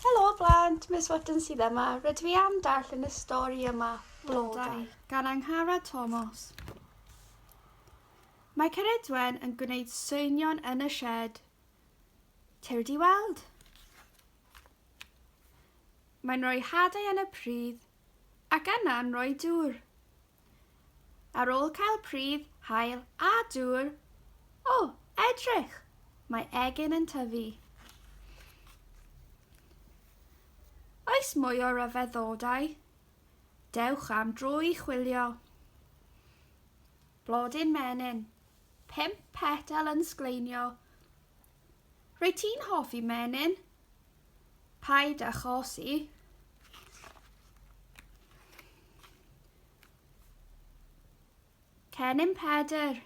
Helo blant, Miss Wotton sydd yma. Rydw i am darllen y stori yma, Blodau, gan Angharad Tomos. Mae Ceridwen yn gwneud seinion yn y shed. Tew di weld. Mae'n rhoi hadau yn y pridd ac yna'n rhoi dŵr. Ar ôl cael pridd, haul a dŵr, o, edrych! Mae egin yn tyfu. Oes mwy o ryfeddodau? Dewch am dro i chwilio. Blodyn menyn, pimp petal yn sgleinio, Rwyt ti'n hoffi menyn? Paid â chosi. Cennin Pedr.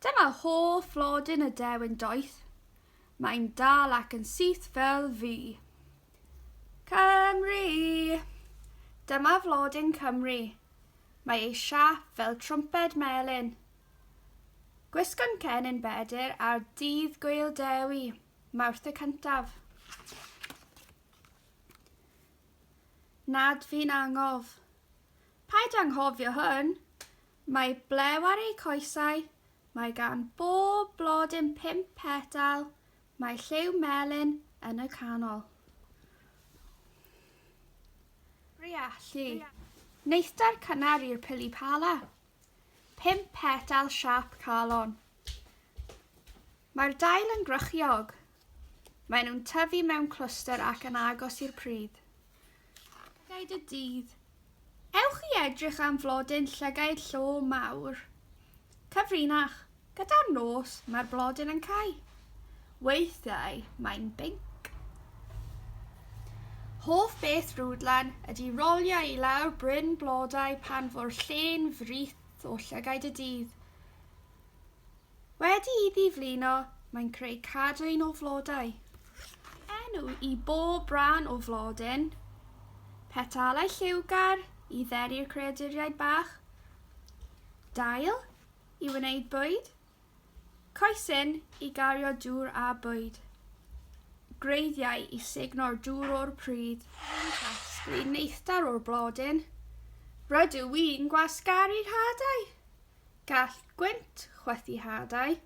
Dyma holl flodyn y dewin doeth. Mae'n dal ac yn syth fel fi. Cymru! Dyma flodyn Cymru. Mae ei siap fel trwmped melyn. Gwisgo'n cennin Bedr ar dydd Gwyl Dewi, Mawrth y cyntaf. Nad fi'n angof. Paid anghofio hwn. Mae blew ar ei coesau, mae gan bob blodyn pum petal, mae lliw melyn yn y canol. Briallu. Neithdar cynnar i'r pili pala. Pump petal siâp calon. Mae'r dail yn grychiog. Mae nhw'n tyfu mewn clwstr ac yn agos i'r pridd. Llygaid y dydd. Ewch i edrych am flodyn llygaid llo mawr. Cyfrinach. Gyda'r nos mae'r blodyn yn cau, weithiau mae'n binc. Hoff beth Rwdlan ydy rolio i lawr bryn blodau pan fo'r lle'n frith o llygaid y dydd. Wedi iddi flino, mae'n creu cadwyn o flodau. Enw i bob rhan o flodyn. Petalau lliwgar i dderi'r creaduriaid bach. Dail, i wneud bwyd, coesyn i gario dŵr a bwyd, gwreiddiau i sugno'r dŵr o'r pridd, rwy'n casglu neithdar o'r blodyn, rydw i'n gwasgaru hadau, gall gwynt chwythu hadau,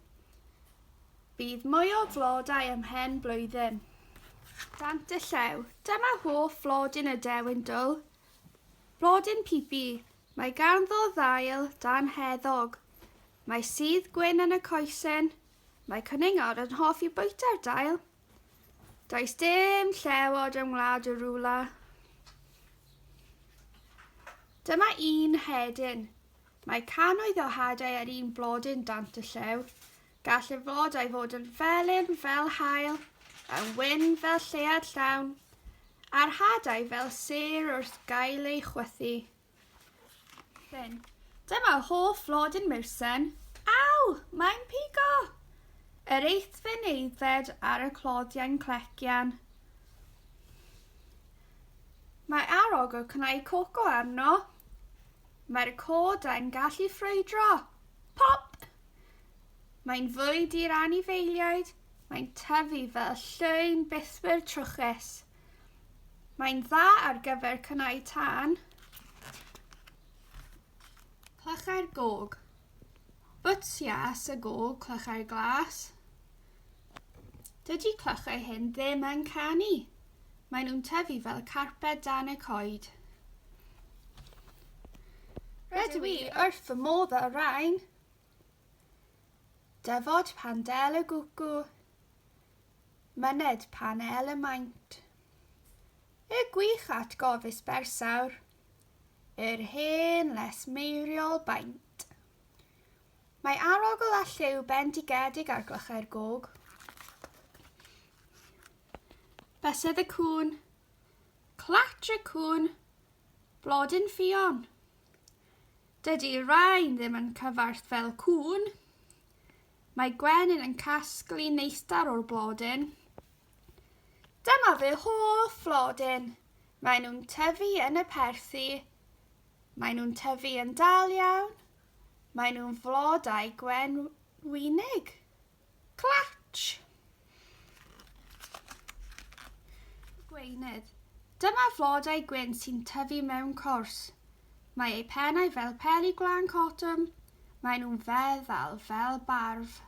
bydd mwy o flodau ym mhen blwyddyn. Dant y Llew, dyma hoff flodyn y Dewin Dwl, blodyn pipi, Mae ganddo ddail dan heddwch. Mae sudd gwyn yn y coesyn. Mae cwningod yn hoffi bwyta'r dail. Does dim llewod yng ngwlad y rwla. Dyma un hedyn. Mae cannoedd o hadau ar un blodyn dant y llew. Gall y flodau fod yn felyn fel haul, yn wyn fel lleuad llawn, a'r hadau fel sêr wrth gael ei chwythu. Then, dyma hoff flodyn Mursen. Aw! Mae'n pigo! Yr eithfe'n aeddfed ar y cloddiau'n clecian. Mae arog o cnau coco arno. Mae'r codau'n gallu ffrwydro. Pop! Mae'n fwyd i'r anifeiliaid, mae'n tyfu fel llwyn bythwyrdd trwchus. Mae'n dda ar gyfer cynnau tân. Clychau'r gog. Bwtsias y gog, clychau'r glas. Dydy clychau hyn ddim yn canu. Maen nhw'n tyfu fel carped dan y coed. Rydw i wrth fy modd â rhain. Dyfod pan del y gwcw, myned pan el y maint. Y gwych atgofus bersawr, yr hen les meiriol baint. Mae arogl a lliw bendigedig ar glychau'r gog. Bysedd y cŵn, clatr y cŵn, Blodyn Ffion. Dydy Rain ddim yn cyfarth fel cŵn. Mae Gwenyn yn casglu neistar o'r blodyn. Dyma fy hoff flodyn. Mae nhw'n tyfu yn y perthi. Mae nhw'n tyfu yn dal iawn. Mae nhw'n flodau gwenwynig. Clatch! Gweinydd. Dyma flodau gwyn sy'n tyfu mewn cors. Mae eu pennau fel peli gwlân cotwm. Mae nhw'n feddal fel barf.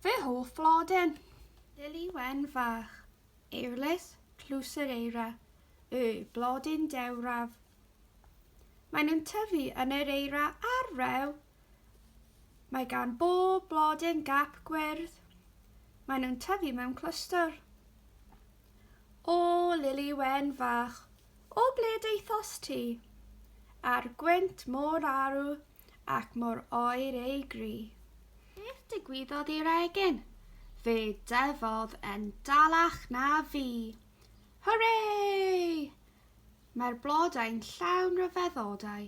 Fy hoff flodyn. Lili wen fach. Euryllus clusereira yw blodyn dewraf. Mae nhw'n tyfu yn yr eira a'r rew Mae gan bob blodyn gap gwyrdd. Maen nhw'n tyfu mewn clwstwr. O, Lili Wen fach, o ble daethos ti? A'r gwynt mor arw ac mor oer ei gri. Beth digwyddodd i'r egin? Fe dyfodd yn dalach na fi. Hwrê! Mae'r blodau'n llawn ryfeddodau.